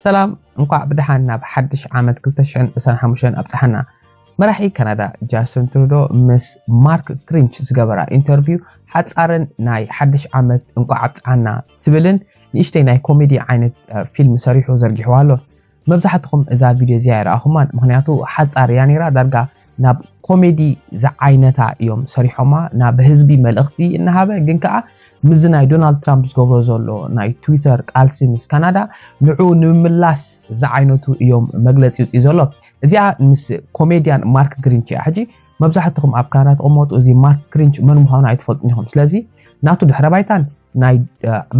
ሰላም እንኳዕ ብደሓን ናብ ሓድሽ ዓመት ክልተ ሽሕን ዕስራን ሓሙሽተን ኣብጽሓና። መራሒ ካናዳ ጃስን ትሩዶ ምስ ማርክ ክሪንች ዝገበራ ኢንተርቪው ሓጻርን ናይ ሓድሽ ዓመት እንቋዕ ኣብጽሓና ትብልን ንእሽተይ ናይ ኮሜዲ ዓይነት ፊልም ሰሪሑ ዘርጊሕዋ ኣሎ። መብዛሕትኹም እዛ ቪድዮ እዚኣ ኣይረኣኹማን ምኽንያቱ ሓጻር እያ ነይራ ዳርጋ ናብ ኮሜዲ ዝዓይነታ እዮም ሰሪሖማ ናብ ህዝቢ መልእኽቲ እናሃበ ግን ከኣ ምስዚ ናይ ዶናልድ ትራምፕ ዝገብሮ ዘሎ ናይ ትዊተር ቃልሲ ምስ ካናዳ ንዑ ንምምላስ ዝዓይነቱ እዮም መግለጺ ውጽኢ ዘሎ እዚኣ ምስ ኮሜድያን ማርክ ግሪንች እያ ሕጂ መብዛሕትኹም ኣብ ካናዳ ተቐመጡ እዚ ማርክ ግሪንች መን ምዃኑ ኣይትፈልጡን ኢኹም ስለዚ ናቱ ድሕረ ባይታን ናይ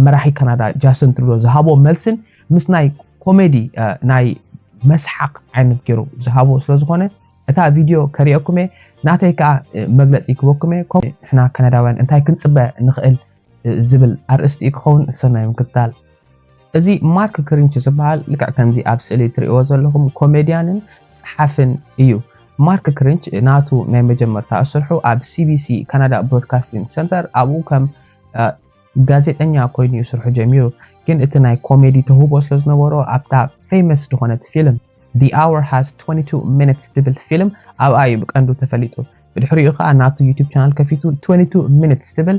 መራሒ ካናዳ ጃስትን ትሩዶ ዝሃቦ መልስን ምስ ናይ ኮሜዲ ናይ መስሓቅ ዓይነት ገይሩ ዝሃቦ ስለ ዝኾነ እታ ቪድዮ ከሪኦኩም እየ ናተይ ከዓ መግለፂ ክበኩም እየ ከምኡ ንሕና ካናዳውያን እንታይ ክንፅበ ንኽእል ዝብል ኣርእስቲ እዩ ክኸውን ሰናይ ምክትታል እዚ ማርክ ክሪንች ዝበሃል ልክዕ ከምዚ ኣብ ስእሊ ትሪእዎ ዘለኹም ኮሜድያንን ፀሓፍን እዩ ማርክ ክሪንች ናቱ ናይ መጀመርታ ስርሑ ኣብ ሲቢሲ ካናዳ ብሮድካስቲንግ ሰንተር ኣብኡ ከም ጋዜጠኛ ኮይኑ እዩ ስርሑ ጀሚሩ ግን እቲ ናይ ኮሜዲ ተውህቦ ስለ ዝነበሮ ኣብታ ፌመስ ዝኾነት ፊልም The Hour Has Twenty Two Minutes ትብል ፊልም ኣብኣ እዩ ብቀንዱ ተፈሊጡ ብድሕሪኡ ከኣ ናቱ ዩቱብ ቻናል ከፊቱ Twenty Two Minutes ትብል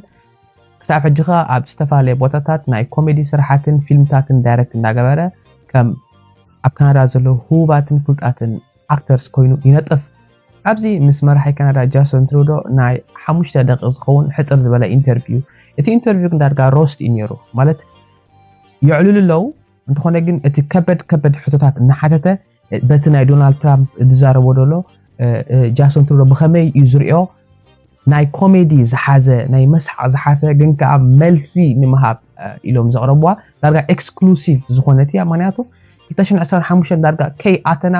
ክሳብ ሕጂ ከኣ ኣብ ዝተፈላለየ ቦታታት ናይ ኮሜዲ ስራሓትን ፊልምታትን ዳይረክት እንዳገበረ ከም ኣብ ካናዳ ዘለዉ ህቡባትን ፍሉጣትን ኣክተርስ ኮይኑ ይነጥፍ። ኣብዚ ምስ መራሒ ካናዳ ጃሶን ትሩዶ ናይ ሓሙሽተ ደቂቅ ዝኸውን ሕጽር ዝበለ ኢንተርቪው እቲ ኢንተርቪው ግን ዳርጋ ሮስት እዩ ነይሩ ማለት የዕልሉ ኣለው እንተኾነ ግን እቲ ከበድ ከበድ ሕቶታት እናሓተተ በቲ ናይ ዶናልድ ትራምፕ ዝዛረቦ ዘሎ ጃሶን ትሩዶ ብኸመይ እዩ ዝሪኦ ናይ ኮሜዲ ዝሓዘ ናይ መስሓቅ ዝሓሰ ግን ከዓ መልሲ ንምሃብ ኢሎም ዘቕረብዋ ዳርጋ ኤክስክሉሲቭ ዝኾነት እያ ምክንያቱ ክልተ ሽሕን ዕስራን ሓሙሽተን ዳርጋ ከይ ኣተና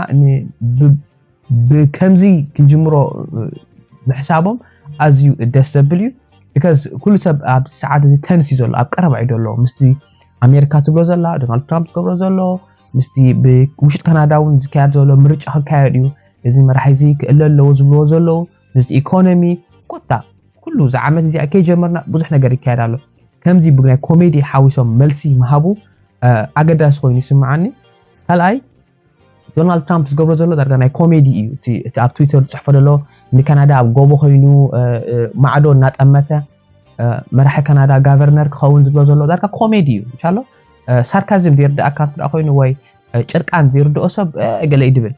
ብከምዚ ክንጅምሮ ምሕሳቦም ኣዝዩ ደስ ዘብል እዩ ቢካዝ ኩሉ ሰብ ኣብ ሰዓት እዚ ተንስ እዩ ዘሎ ኣብ ቀረባ እዩ ዘሎ ምስቲ ኣሜሪካ ትብሎ ዘላ ዶናልድ ትራምፕ ዝገብሮ ዘሎ ምስቲ ብውሽጢ ካናዳ እውን ዝካየድ ዘሎ ምርጫ ክካየድ እዩ እዚ መራሒ እዚ ክእለ ኣለዎ ዝብልዎ ዘለዉ ትምህርቲ ኢኮኖሚ ኮታ ኩሉ እዚ ዓመት እዚኣ ከይጀመርና ብዙሕ ነገር ይካየድ ኣሎ ከምዚ ብናይ ኮሜዲ ሓዊሶም መልሲ ምሃቡ ኣገዳሲ ኮይኑ ይስምዓኒ ካልኣይ ዶናልድ ትራምፕ ዝገብሮ ዘሎ ዳርጋ ናይ ኮሜዲ እዩ እቲ ኣብ ትዊተር ዝፅሕፎ ዘሎ ንካናዳ ኣብ ጎቦ ኮይኑ ማዕዶ እናጠመተ መራሒ ካናዳ ጋቨርነር ክኸውን ዝብሎ ዘሎ ዳርጋ ኮሜዲ እዩ እንሻሎ ሳርካዝም ዘይርዳእካ እንት ኮይኑ ወይ ጭርቃን ዘይርድኦ ሰብ ገለ ይድብል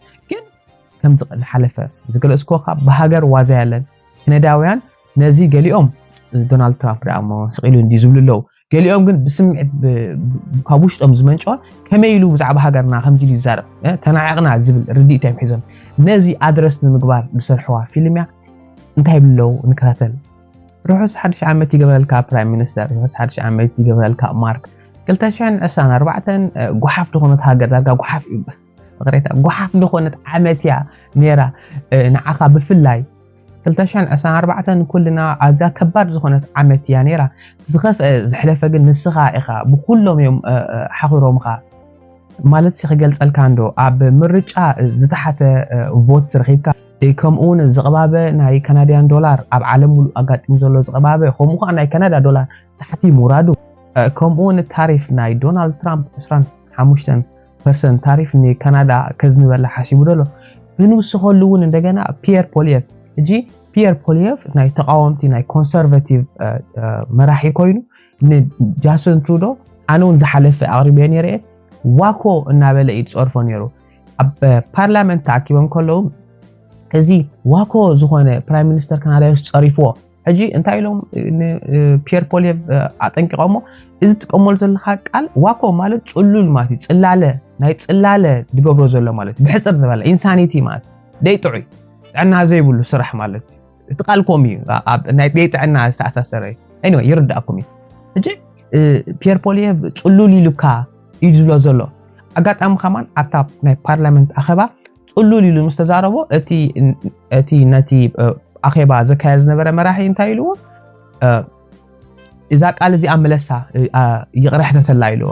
ከም ዝሓለፈ ዝገለጽኩወካ ብሃገር ዋዛ የለን ክነዳውያን ነዚ ገሊኦም ዶናልድ ትራምፕ ደኣ እሞ ስቂሉ እንዲ ዝብሉ ኣለዉ ገሊኦም ግን ብስምዒት ካብ ውሽጦም ዝመንጨወ ከመይ ኢሉ ብዛዕባ ሃገርና ከምዚ ኢሉ ይዛረብ ተናዕቕና ዝብል ርድኢት እዮም ሒዞም ነዚ ኣድረስ ንምግባር ዝሰርሕዋ ፊልም እያ እንታይ ብለው ንከታተል ርሑስ ሓድሽ ዓመት ይገበረልካ ፕራይም ሚኒስተር ርሑስ ሓድሽ ዓመት ይገበረልካ ማርክ 224 ጓሓፍ ዝኾነት ሃገር ዳርጋ ጓሓፍ እዩ ይቕሬታ ጓሓፍ ዝኾነት ዓመት እያ ነይራ ንዓኻ ብፍላይ 224 ኩልና ኣዛ ከባድ ዝኾነት ዓመት እያ ነይራ ዝኸፍአ ዝሕለፈ ግን ንስኻ ኢኻ ብኩሎም እዮም ሓኺሮምኻ ማለት ሲ ክገልጸልካ እንዶ ኣብ ምርጫ ዝተሓተ ቮት ረኺብካ ከምኡ እውን ዝቕባበ ናይ ካናድያን ዶላር ኣብ ዓለም ሙሉእ ኣጋጢሙ ዘሎ ዝቕባበ ከምኡ ከዓ ናይ ካናዳ ዶላር ታሕቲ ምውራዱ ከምኡ እውን ታሪፍ ናይ ዶናልድ ትራምፕ 25 ፐርሰንት ታሪፍ ንካናዳ ከዝንበላ ሓሲቡ ደሎ ክንውስኸሉ እውን እንደገና ፒየር ፖሊየፍ እጂ ፒየር ፖሊየፍ ናይ ተቃወምቲ ናይ ኮንሰርቫቲቭ መራሒ ኮይኑ ንጃስን ትሩዶ ኣነ እውን ዝሓለፈ ኣቕሪበ ነይረ ዋኮ እናበለ እዩ ዝፀርፎ ነይሩ ኣብ ፓርላመንት ተኣኪቦም ከለዉ እዚ ዋኮ ዝኾነ ፕራይም ሚኒስተር ካናዳ ጸሪፍዎ ሕጂ እንታይ ኢሎም ንፒየር ፖልየቭ ኣጠንቂቖሞ እዚ ትጥቀመሉ ዘለካ ቃል ዋኮ ማለት ጽሉል ማለት እዩ ጽላለ ናይ ጽላለ ዝገብሮ ዘሎ ማለት ብሕጽር ዝበለ ኢንሳኒቲ ማለት ደይ ጥዑይ ጥዕና ዘይብሉ ስራሕ ማለት እቲ ቃል ከምኡ እዩ ኣብ ናይ ደይ ጥዕና ዝተኣሳሰረ እዩ ኤኒወ ይርዳእኩም እዩ ሕጂ ፒየር ፖልየቭ ጽሉል ኢሉካ እዩ ዝብሎ ዘሎ ኣጋጣሚ ከማን ኣብታ ናይ ፓርላመንት ኣኸባ ጽሉል ኢሉ ምስ ተዛረቦ እቲ ነቲ ኣኼባ ዘካየድ ዝነበረ መራሒ እንታይ ኢልዎ እዛ ቃል እዚኣ መለሳ ይቕረ ሕተተላ ኢልዎ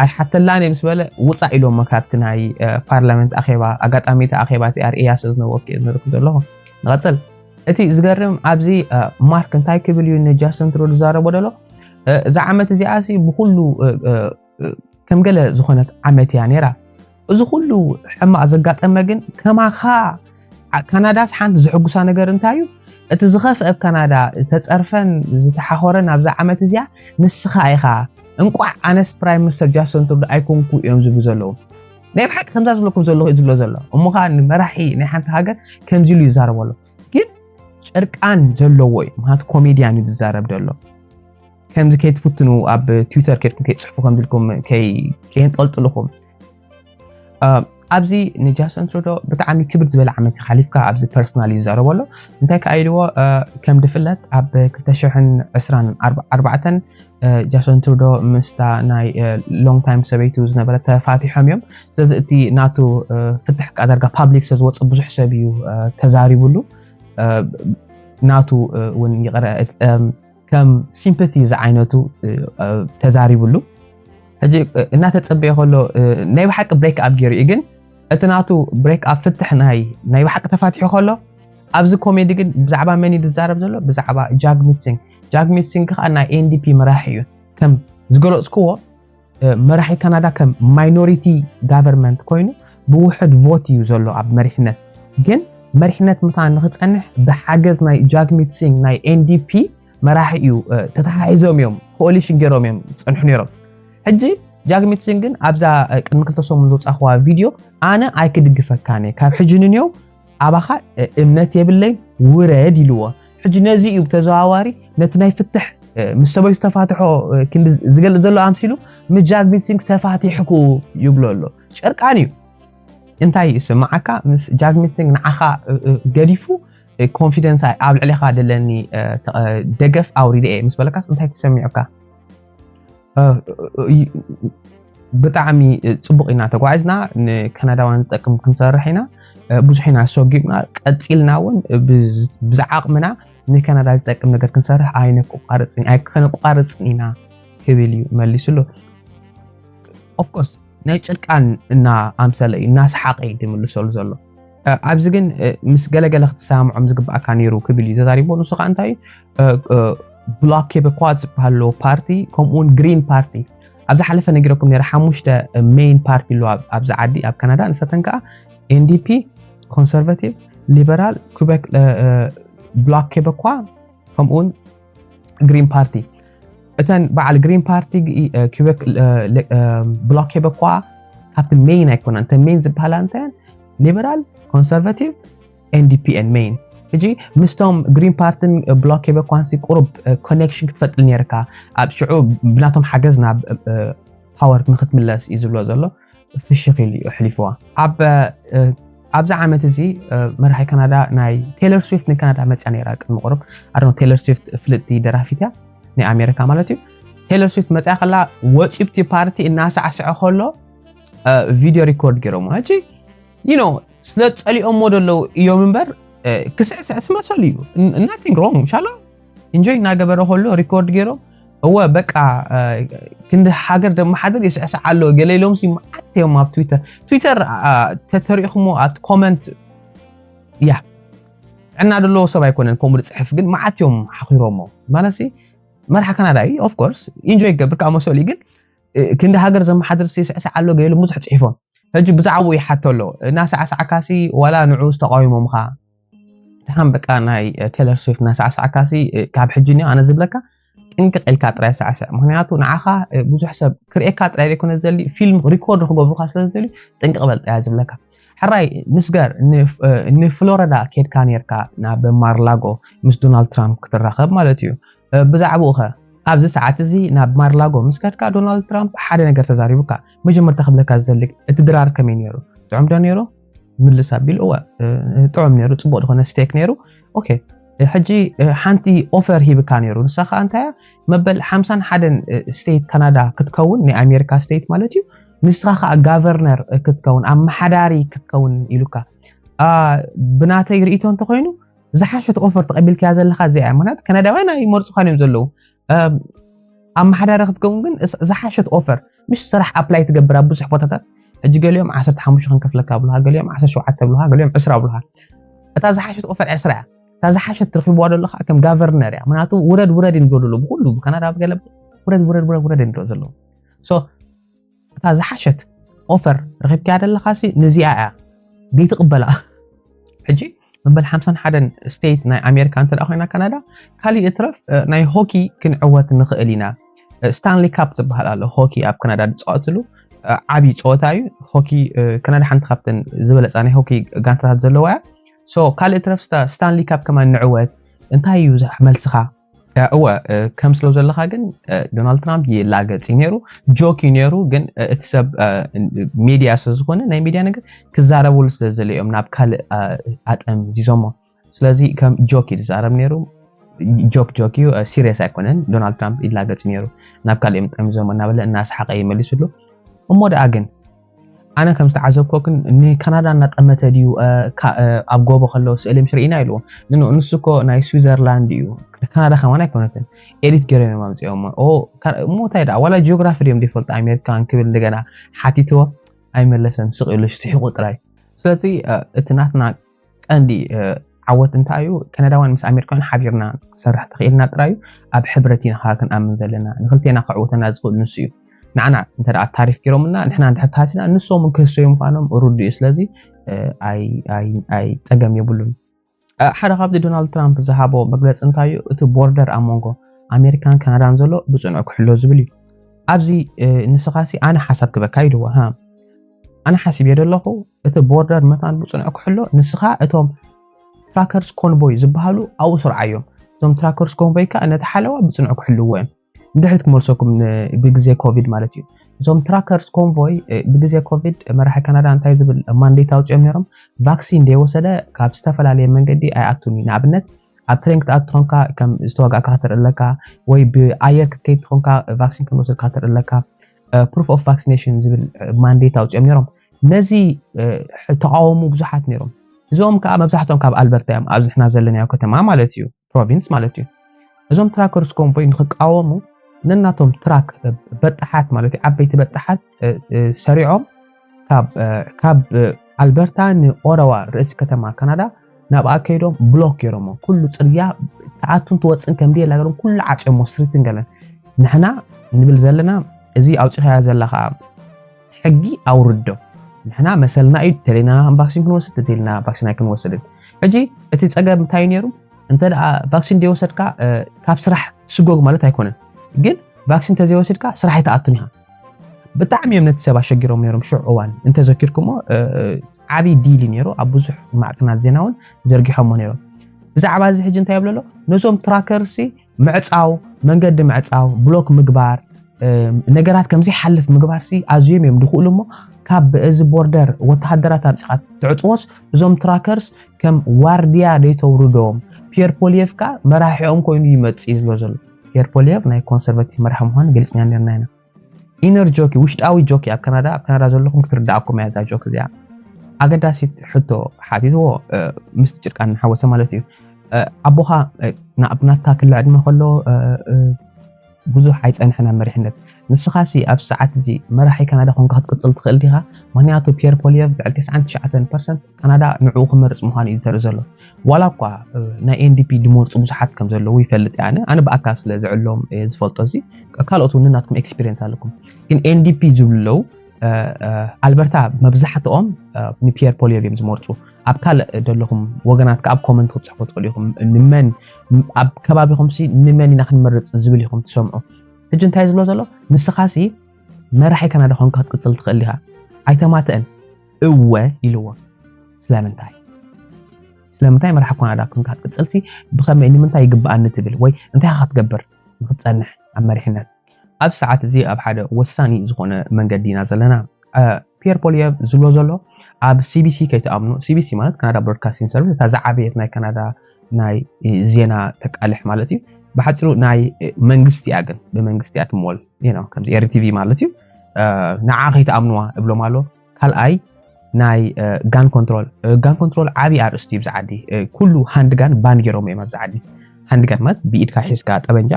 ኣይሓተላን ምስ በለ ውፃእ ኢሎሞ ካብቲ ናይ ፓርላመንት ኣኼባ ኣጋጣሚ እቲ ኣኼባ እቲ ኣርእያ ስለ ዝነበርኩ ዝነበርኩ ዘለኹ ንቐፅል እቲ ዝገርም ኣብዚ ማርክ እንታይ ክብል እዩ ንጃስትን ትሮ ዝዛረቦ ደሎ እዛ ዓመት እዚኣ ሲ ብኩሉ ከም ገለ ዝኾነት ዓመት እያ ነይራ እዚ ኩሉ ሕማቅ ዘጋጠመ ግን ከማኻ ካናዳስ ሓንቲ ዝሕጉሳ ነገር እንታይ እዩ እቲ ዝኸፍአ ኣብ ካናዳ ዝተጸርፈን ዝተሓኾረን ኣብዚ ዓመት እዚኣ ንስኻ ኢኻ እንቋዕ ኣነስ ፕራይም ሚኒስተር ጃስቶን ትርዶ ኣይኮንኩ እዮም ዝብሉ ዘለዉ ናይ ብሓቂ ከምዛ ዝብለኩም ዘለኹ እዩ ዝብሎ ዘሎ እሞ ከዓ ንመራሒ ናይ ሓንቲ ሃገር ከምዚ ኢሉ ይዛረበሉ ግን ጨርቃን ዘለዎ እዩ ምክንያቱ ኮሜድያን እዩ ዝዛረብ ዘሎ ከምዚ ከይትፍትኑ ኣብ ትዊተር ከድኩም ከይትፅሕፉ ከምዚ ኢልኩም ከየንጠልጥልኹም ኣብዚ ንጃስን ትሩዶ ብጣዕሚ ክብር ዝበለ ዓመት እዩ ሓሊፍካ ኣብዚ ፐርሶናል እዩ ዝዛረቦ ኣሎ እንታይ ከዓ ኢልዎ ከም ድፍለጥ ኣብ 224 ጃሶን ትሩዶ ምስታ ናይ ሎንግ ታይም ሰበይቱ ዝነበረ ተፋቲሖም እዮም ስለዚ እቲ ናቱ ፍትሕ ከዓ ዳርጋ ፓብሊክ ስለ ዝወፅ ብዙሕ ሰብ እዩ ተዛሪብሉ ናቱ እውን ይቕረ ከም ሲምፐቲ ዝዓይነቱ ተዛሪብሉ ሕጂ እናተፀበየ ከሎ ናይ ብሓቂ ብሬክ ኣብ ገይሩ እዩ ግን እቲ ናቱ ብሬክ ኣብ ፍትሕ ናይ ናይ ብሓቂ ተፋትሑ ከሎ ኣብዚ ኮሜዲ ግን ብዛዕባ መን እዩ ዝዛረብ ዘሎ ብዛዕባ ጃግሚት ሲንግ ጃግሚት ሲንግ ከዓ ናይ ኤንዲፒ መራሒ እዩ ከም ዝገለፅክዎ መራሒ ካናዳ ከም ማይኖሪቲ ጋቨርንመንት ኮይኑ ብውሕድ ቮት እዩ ዘሎ ኣብ መሪሕነት ግን መሪሕነት ምታ ንክፀንሕ ብሓገዝ ናይ ጃግሚት ሲንግ ናይ ኤንዲፒ መራሒ እዩ ተተሓሒዞም እዮም ኮሊሽን ገይሮም እዮም ዝፀንሑ ነይሮም ሕጂ ጃግሚት ሲንግ ግን ኣብዛ ቅድሚ ክልተ ሰሙን ዝወፃኹዋ ቪድዮ ኣነ ኣይክድግፈካን እየ ካብ ሕጂ ንንየው ኣባኻ እምነት የብለይን ውረድ ኢልዎ። ሕጂ ነዚ እዩ ብተዘዋዋሪ ነቲ ናይ ፍትሕ ምስ ሰበይቱ ተፋትሖ ክንዲ ዝገልጽ ዘሎ ኣምሲሉ ምጃግቢት ሲንግ ተፋቲሕኩ ይብሎ ኣሎ። ጨርቃን እዩ። እንታይ ይስምዓካ ምስ ጃግሚት ሲንግ ንዓኻ ገዲፉ ኮንፊደንስ ኣብ ልዕሌኻ ደለኒ ደገፍ ኣውሪደ እየ ምስ በለካስ እንታይ ተሰሚዑካ? ብጣዕሚ ፅቡቅ ኢና ተጓዒዝና ንከናዳውያን ዝጠቅም ክንሰርሕ ኢና ብዙሕ ኢና ሰጊምና ቀፂልና እውን ብዝዓቅምና ንከናዳ ዝጠቅም ነገር ክንሰርሕ ኣይነቋርፅን ኣይከነቋርፅን ኢና ክብል እዩ መሊሱሉ ኦፍኮርስ ናይ ጭርቃን እና ኣምሰለ እዩ እናሰሓቀ እዩ ድምልሰሉ ዘሎ ኣብዚ ግን ምስ ገለገለ ክትሰማምዖም ዝግባእካ ነይሩ ክብል እዩ ተዛሪቦ ንሱ ከዓ እንታይ ብሎክ ኬበኳ ዝበሃል ኣሎ ፓርቲ ከምኡውን ግሪን ፓርቲ ኣብ ዝሓለፈ ነጊረኩም ነረ ሓሙሽተ ሜይን ፓርቲ ኣለዋ ኣብዚ ዓዲ ኣብ ካናዳ ንሰተን ከዓ ኤንዲፒ ኮንሰርቫቲቭ ሊበራል ኩበክ ብሎክ ኬበኳ ከምኡውን ግሪን ፓርቲ እተን በዓል ግሪን ፓርቲ ኪበክ ብሎክ ኪበክ ኳ ካብቲ ሜይን ኣይኮናን እተን ሜይን ዝበሃላ እንታየን ሊበራል ኮንሰርቫቲቭ ኤንዲፒኤን ሜይን ሕጂ ምስቶም ግሪን ፓርትን ብሎክ ኪበክ ኳንሲ ቁሩብ ኮኔክሽን ክትፈጥል ነርካ ኣብ ሽዑ ብናቶም ሓገዝ ናብ ፓወር ንክትምለስ እዩ ዝብሎ ዘሎ ፍሽኽ ኢሉ እዩ ኣሕሊፍዋ። ኣብ ኣብዚ ዓመት እዚ መራሒ ካናዳ ናይ ቴይለር ስዊፍት ንካናዳ መፅያ ነይራ ቅድሚ ቁሩብ ኣዶ ቴይለር ስዊፍት ፍልጥቲ ደራፊት እያ ናይ ኣሜሪካ ማለት እዩ ቴይለር ስዊፍት መፅያ ከላ ወፂብቲ ፓርቲ እናሳዕስዐ ከሎ ቪድዮ ሪኮርድ ገይሮም ሕጂ ዩ ኖ ስለ ፀሊኦሞ ደለዉ እዮም እምበር ክስዕስዕስ መሰሉ እዩ ናቲንግ ሮንግ ሻላ ኢንጆይ እናገበረ ከሎ ሪኮርድ ገይሮም እወ በቃ ክንዲ ሃገር ደመሓድር የስዕስዕ ኣሎ ገለ ኢሎም ሲ መዓት እዮም ኣብ ትዊተር ትዊተር ተተሪእኹሞ ኣብቲ ኮመንት እያ ጥዕና ዘለዎ ሰብ ኣይኮነን ከምኡ ዝፅሕፍ ግን መዓት እዮም ሓኺሮሞ ማለት መርሓ ካናዳ እዩ ኦፍኮርስ ኢንጆይ ይገብር ከዓ መሰሉ ግን ክንዲ ሃገር ዘመሓድር የስዕስዕ ኣሎ ገለ ኢሎም ብዙሕ ፅሒፎም ሕጂ ብዛዕባኡ ይሓቶ ኣሎ እናሳዕሳዕካሲ ዋላ ንዑ ዝተቃዊሞምኻ ድሓን በቃ ናይ ቴለር ስዊፍት እናሳዕሳዕካሲ ካብ ሕጂ እኒኦ ኣነ ዝብለካ ጥንቅቕ ኢልካ ጥራይ ሳዕስዕ ምክንያቱ ንዓኻ ብዙሕ ሰብ ክርእየካ ጥራይ ዘይኮነ ዝደሊ ፊልም ሪኮርድ ክገብሩካ ስለ ዝደልዩ ጥንቅቕ በል ጥራይ ዝብለካ ሕራይ ምስገር ንፍሎረዳ ኬድካ ነርካ ናብ ማርላጎ ምስ ዶናልድ ትራምፕ ክትራኸብ ማለት እዩ ብዛዕባኡ ኸ ኣብዚ ሰዓት እዚ ናብ ማርላጎ ምስ ከድካ ዶናልድ ትራምፕ ሓደ ነገር ተዛሪቡካ መጀመርታ ክብለካ ዝደሊ እቲ ድራር ከመይ ነይሩ ጥዑም ዶ ነይሩ ምልስ ኣቢሉ እወ ጥዑም ነይሩ ፅቡቅ ዝኾነ ስቴክ ነይሩ ኦኬ ሕጂ ሓንቲ ኦፈር ሂብካ ነይሩ ንሳ ከዓ እንታይ እያ መበል ሓምሳን ሓደን ስቴት ካናዳ ክትከውን ናይ ኣሜሪካ ስቴት ማለት እዩ ንስኻ ከዓ ጋቨርነር ክትከውን ኣመሓዳሪ ክትከውን ኢሉካ ብናተይ ርእቶ እንተኮይኑ ዝሓሸት ኦፈር ተቐቢልካያ ዘለካ እዚኣ እያ ምክንያቱ ካናዳውያን ኣይመርፁኻን እዮም ዘለዉ ኣመሓዳሪ ክትከውን ግን ዝሓሸት ኦፈር ምስ ስራሕ ኣፕላይ ትገብር ኣብ ብዙሕ ቦታታት ሕጂ ገሊኦም 15 ክንከፍለካ ብልሃ ገሊኦም 17 ብልሃ ገሊኦም 20 ብልሃ እታ ዝሓሸት ኦፈር ዕስራ እያ እታ ዝሓሸት ትረኪብዋ ዘሎ ከዓ ከም ጋቨርነር እያ ምክንያቱ ውረድ ውረድ ይንዶ ዘሎ ብኩሉ ብካናዳ ብገለ ውረድ ውረድ ውረድ ውረድ ይንዶ ዘለዉ እታ ዝሓሸት ኦፈር ረኺብካያ ደለኻሲ ንዚኣ እያ ዘይትቕበላ ሕጂ መበል ሓምሳን ሓደን ስቴት ናይ ኣሜሪካ እንተ ኮይና ካናዳ ካሊእ እትረፍ ናይ ሆኪ ክንዕወት ንኽእል ኢና ስታንሊ ካፕ ዝበሃል ኣሎ ሆኪ ኣብ ካናዳ ዝፃወትሉ ዓብዪ ፀወታ እዩ ሆኪ ካናዳ ሓንቲ ካብተን ዝበለፃ ናይ ሆኪ ጋንታታት ዘለዋ እያ ካልእ ትረፍስታ ስታንሊ ካብ ከማ ንዕወት እንታይ እዩ መልስኻ እወ ከም ስለ ዘለካ ግን ዶናልድ ትራምፕ ይላገጽ እዩ ነይሩ ጆክ እዩ ነይሩ ግን እቲ ሰብ ሚድያ ስለ ዝኾነ ናይ ሚድያ ነገር ክዛረብሉ ስለ ዘለ እዮም ናብ ካልእ ኣጠምዚዞሞ ስለዚ ከም ጆክ እዩ ዝዛረብ ነይሩ ጆክ ጆክ እዩ ሲሪየስ ኣይኮነን ዶናልድ ትራምፕ ይላገጽ ነይሩ ናብ ካልእ እዮም ጠምዞሞ እናበለ እናስሓቀ ይመሊስሉ እሞ ደኣ ግን ኣነ ከም ዝተዓዘብኮ ግን ንካናዳ እናጠመተ ድዩ ኣብ ጎቦ ከለዎ ስእሊ ምስ ርኢና ኢልዎ ንሱ እኮ ናይ ስዊዘርላንድ እዩ ካናዳ ከማን ኣይኮነትን ኤዲት ገይሮም እዮም ኣምፅኦሞ እሞ እንታይ ደኣ ዋላ ጂኦግራፊ ድዮም ዘይፈልጡ ኣሜሪካን ክብል እንደገና ሓቲትዎ ኣይመለሰን ስቕ ኢሉ ስሒቑ ጥራይ ስለዚ እቲ ናትና ቀንዲ ዓወት እንታይ እዩ? ከነዳውያን ምስ ኣሜሪካውያን ሓቢርና ክንሰርሕ ተኽኢልና ጥራይ እዩ። ኣብ ሕብረት ኢና ከኣ ክንኣምን ዘለና። ንክልቴና ከዕውተና ዝኽእል ንሱ እዩ። ንዓና እንተ ደኣ ታሪፍ ገይሮምልና ንሕና እንድሕር ተሃሲና ንሶም እውን ክህሰዩ ምዃኖም ርዱእ እዩ። ስለዚ ኣይ ጸገም የብሉን። ሓደ ካብቲ ዶናልድ ትራምፕ ዝሃቦ መግለጺ እንታይ እዩ? እቲ ቦርደር ኣብ መንጎ ኣሜሪካን ካናዳን ዘሎ ብጽኑዕ ክሕሎ ዝብል እዩ። ኣብዚ ንስኻሲ ኣነ ሓሳብ ክበካ ኢልዎ። ኣነ ሓሲቤ ደለኹ እቲ ቦርደር መታን ብጽኑዕ ክሕሎ ንስኻ እቶም ትራከርስ ኮንቮይ ዝበሃሉ ኣብኡ ስርዓዮም እዞም ትራከርስ ኮንቮይ ከኣ ነቲ ሓለዋ ብጽኑዕ ክሕልዎ እዮም ንድሕሪት ክመልሰኩም ብግዜ ኮቪድ ማለት እዩ እዞም ትራከርስ ኮንቮይ ብግዜ ኮቪድ መራሒ ካናዳ እንታይ ዝብል ማንዴት ኣውፅኦም ነይሮም ቫክሲን ዘይወሰደ ካብ ዝተፈላለየ መንገዲ ኣይኣቱን እዩ ንኣብነት ኣብ ትሬን ክትኣቱ ትኾንካ ከም ዝተዋጋእካ ክትርኢ ኣለካ ወይ ብኣየር ክትከይድ ትኾንካ ቫክሲን ክንወስድካ ክትርኢ ኣለካ ፕሩፍ ኦፍ ቫክሲኔሽን ዝብል ማንዴት ኣውፅኦም ነይሮም ነዚ ተቃወሙ ብዙሓት ነይሮም እዚኦም ከዓ መብዛሕትኦም ካብ ኣልበርታ እዮም ኣብዚ ሕና ዘለናዮ ከተማ ማለት እዩ ፕሮቪንስ ማለት እዩ እዞም ትራከርስ ኮንቮይ ንክቃወሙ ነናቶም ትራክ በጣሓት ማለት እዩ ዓበይቲ በጣሓት ሰሪዖም ካብ ኣልበርታ ንኦረዋ ርእሲ ከተማ ካናዳ ናብኣ ከይዶም ብሎክ ገይሮሞ ኩሉ ፅርያ ትኣቱን ትወፅን ከምዲ የላ ገሮም ኩሉ ዓፅዮሞ ስትሪትን ገለን ንሕና ንብል ዘለና እዚ ኣውፂኻዮ ዘለኻ ሕጊ ኣውርዶ ንሕና መሰልና እዩ ተለና ቫክሲን ክንወስድ ተዘይልና ቫክሲን ኣይክንወስድን ሕጂ እቲ ፀገብ እንታይ ነይሩ እንተ ቫክሲን ዘይወሰድካ ካብ ስራሕ ትስጎግ ማለት ኣይኮነን ግን ቫክሲን ተዘይወሲድካ ስራሕ ኣይትኣቱን ኢኻ ብጣዕሚ እዮም ነቲ ሰብ ኣሸጊሮም ነይሮም ሽዑ እዋን እንተዘኪርኩሞ ዓብዪ ዲሊ ነይሩ ኣብ ብዙሕ ማዕከናት ዜና እውን ዘርጊሖሞ ነይሮም ብዛዕባ እዚ ሕጂ እንታይ ይብለሎ ነዞም ትራከርሲ ምዕፃው መንገዲ ምዕፃው ብሎክ ምግባር ነገራት ከምዘይሓልፍ ምግባርሲ ኣዝዮም እዮም ድኽእሉ እሞ ካብ እዚ ቦርደር ወተሃደራት ኣምፂኻ ትዕፅዎስ እዞም ትራከርስ ከም ዋርድያ ደይተውርዶም ፒየር ፖሊየፍካ መራሒኦም ኮይኑ ይመፅእ እዩ ዝሎ ዘሎ ፒየር ፖሊየቭ ናይ ኮንሰርቨቲቭ መራሒ ምዃኑ ገሊጽና ኔርና ኢና። ኢነር ጆኪ ውሽጣዊ ጆኪ ኣብ ካናዳ ኣብ ካናዳ ዘለኹም ክትርድኣኩም እያ እዛ ጆክ እዚኣ። ኣገዳሲት ሕቶ ሓቲትዎ ምስቲ ጭርቃን ንሓወሰ ማለት እዩ። ኣቦኻ ናብ ናትካ ክሊ ዕድመ ከሎ ብዙሕ ኣይጸንሐን ኣብ መሪሕነት ንስኻ ሲ ኣብ ሰዓት እዚ መራሒ ካናዳ ኮንካ ክትቅጽል ትኽእል ዲኻ? ምክንያቱ ፒየር ፖሊየቭ ልዕሊ 99% ካናዳ ንዕኡ ክመርጽ ምዃኑ እዩ ዘርኢ ዘሎ። ዋላ እኳ ናይ ኤንዲፒ ድመርፁ ብዙሓት ከም ዘለዉ ይፈልጥ እየ ኣነ ኣነ ብኣካል ስለ ዝዕሎም እየ ዝፈልጦ እዚ ካልኦት እውን ናትኩም ኤክስፒሪየንስ ኣለኩም ግን ኤንዲፒ ዝብሉ ኣለዉ ኣልበርታ መብዛሕትኦም ንፒየር ፖሊዮብ እዮም ዝመርፁ ኣብ ካልእ ዘለኹም ወገናት ከዓ ኣብ ኮመንት ክትፅሕፉ ትኽእሉ ኢኹም ንመን ኣብ ከባቢኹም ሲ ንመን ኢና ክንመርፅ ዝብል ኢኹም ትሰምዑ ሕጂ እንታይ ዝብሎ ዘሎ ንስኻ ሲ መራሒ ካናዳ ኮንካ ክትቅፅል ትኽእል ኢኻ ኣይተማትአን እወ ኢልዎ ስለምንታይ ስለምንታይ መራሒ ካናዳ ክንካ ትቅጽልሲ ብኸመይ ንምንታይ ይግብኣኒ ትብል ወይ እንታይ ኢኻ ክትገብር ንክትጸንሕ ኣብ መሪሕነት ኣብ ሰዓት እዚ ኣብ ሓደ ወሳኒ ዝኾነ መንገዲ ኢና ዘለና ፒየር ፖሊየቭ ዝብሎ ዘሎ ኣብ ሲቢሲ ከይትኣምኑ ሲቢሲ ማለት ካናዳ ብሮድካስቲንግ ሰርቪስ እታ ዝዓበየት ናይ ካናዳ ናይ ዜና ተቃልሕ ማለት እዩ ብሓፂሩ ናይ መንግስቲ እያ ግን ብመንግስቲ እያ ትሞል ነው ከምዚ ኤሪ ቲቪ ማለት እዩ ንዓ ከይትኣምንዋ እብሎም ኣሎ ካልኣይ ናይ ጋን ኮንትሮል ጋን ኮንትሮል ዓብዪ ኣርእስቲ እዩ ብዛዓዲ ኩሉ ሃንድ ጋን ባን ገይሮም እዮም ኣብዚ ዓዲ ሃንድ ጋን ማለት ብኢድካ ሒዝካ ጠበንጃ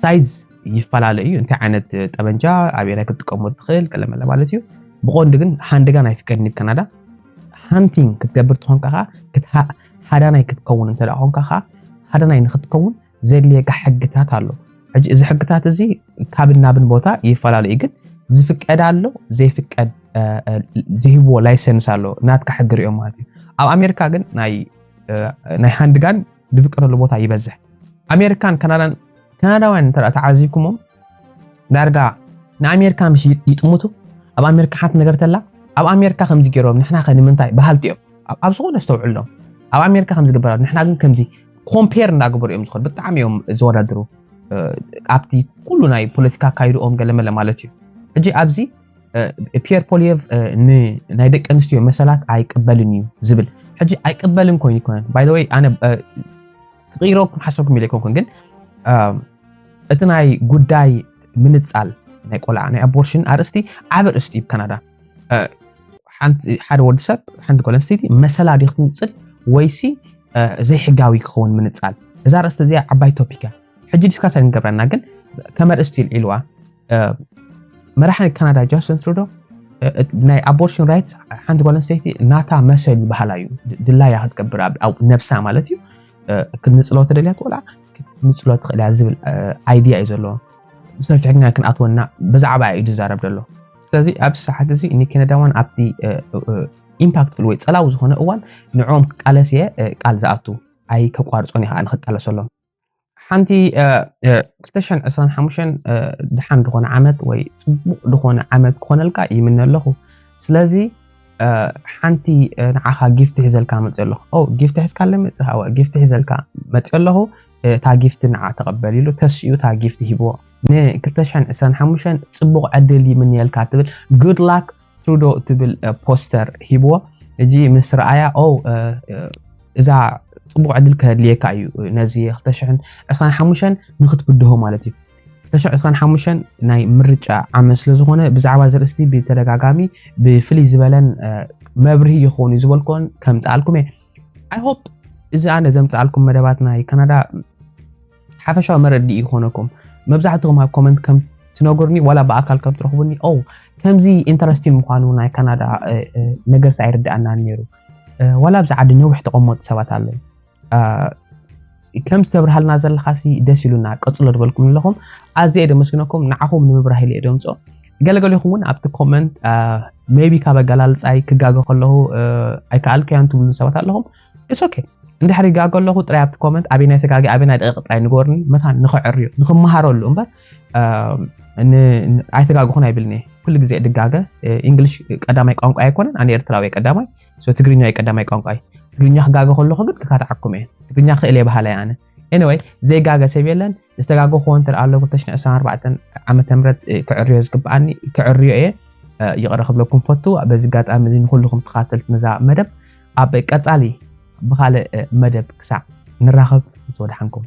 ሳይዝ ይፈላለ እዩ እንታይ ዓይነት ጠበንጃ ኣበየናይ ክትጥቀሙ ትኽእል ቀለመለ ማለት እዩ ብቆንዲ ግን ሃንደጋን ኣይፍቀድን ብ ካናዳ ሃንቲንግ ክትገብር ትኾንካ ከዓ ሃዳናይ ክትከውን እንተ ኮንካ ከዓ ሃዳናይ ንክትከውን ዘድልየካ ሕግታት ኣሎ ሕጂ እዚ ሕግታት እዚ ካብ ናብን ቦታ ይፈላለ እዩ ግን ዝፍቀድ ኣሎ ዘይፍቀድ ዝህብዎ ላይሰንስ ኣሎ ናትካ ሕጊ ሪኦም ማለት እዩ ኣብ ኣሜሪካ ግን ናይ ሃንድጋን ዝፍቀደሉ ቦታ ይበዝሕ። ኣሜሪካን ካናዳን ካናዳውያን እንተ ተዓዚብኩሞም ዳርጋ ንኣሜሪካ ምስ ይጥምቱ ኣብ ኣሜሪካ ሓንቲ ነገር ተላ ኣብ ኣሜሪካ ከምዚ ገይሮም ንሕና ከ ንምንታይ በሃልቲ እዮም ኣብ ዝኾነ ኣስተውዕሎም ኣብ ኣሜሪካ ከም ዝግበራ ንሕና ግን ከምዚ ኮምፔር እንዳገበሩ እዮም ዝኾኑ ብጣዕሚ እዮም ዘወዳድሩ ኣብቲ ኩሉ ናይ ፖለቲካ ኣካይድኦም ገለመለ ማለት እዩ ሕጂ ኣብዚ ፒየር ፖሊየቭ ንናይ ደቂ ኣንስትዮ መሰላት ኣይቅበልን እዩ ዝብል ሕጂ ኣይቅበልን ኮይኑ ይኮነን ባይ ወይ ኣነ ክቕይሮ ሓሰብኩም ኢለ ይኮንኩን ግን እቲ ናይ ጉዳይ ምንፃል ናይ ቆልዓ ናይ ኣቦርሽን ኣርእስቲ ዓብ ርእስቲ እዩ ካናዳ ሓደ ወዲ ሰብ ሓንቲ ጓል ኣንስተይቲ መሰላ ዲ ክትንፅል ወይሲ ዘይሕጋዊ ክኸውን ምንፃል እዛ ርእስቲ እዚኣ ዓባይ ቶፒክ እያ ሕጂ ዲስካስ ኣይንገብረና ግን ከመርእስቲ ይልዒልዋ መራሒ ካናዳ ጃስትን ትሩዶ ናይ ኣቦርሽን ራይትስ ሓንቲ ጓል ኣንስተይቲ ናታ መሰል ይበሃላ እዩ ድላያ ክትገብር ነብሳ ማለት እዩ ክትንፅሎ ተደልያ ትቆልዓ ክትንፅሎ ትኽእል እያ ዝብል ኣይድያ እዩ ዘለዎ ብሰፊሕ ግና ክንኣትወና ብዛዕባ እዩ ዝዛረብ ዘሎ ስለዚ ኣብዚ ሰዓት እዚ ንኬነዳዋን ኣብቲ ኢምፓክትፉል ወይ ፀላዊ ዝኾነ እዋን ንዕኦም ክቃለስ እየ ቃል ዝኣቱ ኣይከቋርፆን እየ ከዓ ንክቃለሰሎም ሓንቲ ክልተ ሽሕን ዕስራን ሓሙሽተን ድሓን ዝኾነ ዓመት ወይ ፅቡቕ ዝኾነ ዓመት ክኾነልካ ይምነ ኣለኹ ስለዚ ሓንቲ ንዓኻ ጊፍቲ ሒዘልካ መፅኦ ኣለኹ ኦ ጊፍቲ ሒዝካ ኣለ መፅእ ሃወ ጊፍቲ ሒዘልካ መፅኦ ኣለኹ እታ ጊፍቲ ንዓ ተቐበል ኢሉ ተሲኡ እታ ጊፍቲ ሂብዎ ን225 ፅቡቕ ዕድል ይምንየልካ ትብል ጉድ ላክ ትሩዶ ትብል ፖስተር ሂብዎ እጂ ምስ ረኣያ ኦ እዛ ፅቡቅ ዕድል ከድልየካ እዩ ነዚ 225 ንክትብድሆ ማለት እዩ 225 ናይ ምርጫ ዓመት ስለዝኾነ ብዛዕባ ዝርእስቲ ብተደጋጋሚ ብፍልይ ዝበለን መብርሂ ይኸውን እዩ ዝበልኮን ከምፅኣልኩም እየ ኣይሆፕ እዚ ኣነ ዘምፅኣልኩም መደባት ናይ ካናዳ ሓፈሻዊ መረድኢ ይኾነኩም መብዛሕትኹም ኣብ ኮመንት ከም ትነግሩኒ ዋላ ብኣካል ከም ትረኽቡኒ ኦ ከምዚ ኢንተረስቲን ምዃኑ ናይ ካናዳ ነገርሲ ኣይርድኣናን ነይሩ ዋላ ኣብዚ ዓዲ ነዊሕ ተቐመጡ ሰባት ኣለዉ ከም ዝተብርሃልና ዘለኻሲ ደስ ኢሉና ቀጽሎ ዝበልኩም ኣለኹም ኣዝየ ደመስግነኩም ንዓኹም ንምብራህ ኢለ ደምጾ ገለገሊኹም እውን ኣብቲ ኮመንት ሜቢ ካብ ኣገላልጻይ ክጋገ ከለኹ ኣይከኣልከያን ትብሉ ሰባት ኣለኹም ኢትስ ኦኬ እንድሕሪ ጋግ ኣለኹ ጥራይ ኣብቲ ኮመንት ኣበናይ ተጋጊ ኣበናይ ደቂቕ ጥራይ ንገሩኒ መታን ንኽዕርዩ ንኽመሃረሉ እምበር ኣይተጋግኹን ኣይብልን እየ ኩሉ ግዜ ድጋገ እንግሊሽ ቀዳማይ ቋንቋ ኣይኮነን ኣነ ኤርትራዊ ቀዳማይ ትግርኛ ቀዳማይ ቋንቋ እዩ ትግርኛ ክጋገ ከለኹ ግን ክካትዓኩም እየ ትግርኛ ክእል እየ በሃላይ ኣነ ኤኒወይ ዘይጋገ ሰብ የለን ዝተጋገኹዎ እንተ ኣሎ ክልተ ሽሕን ዕስራን ኣርባዕተን ዓመተ ምህረት ክዕርዮ ዝግብኣኒ ክዕርዮ እየ ይቕረ ክብለኩም ፈቱ በዚ ኣጋጣሚ እዚ ንኩልኹም ተኻተልቲ ነዛ መደብ ኣብ ቀጻሊ ብኻልእ መደብ ክሳዕ ንራኸብ ምስ ወድሓንኩም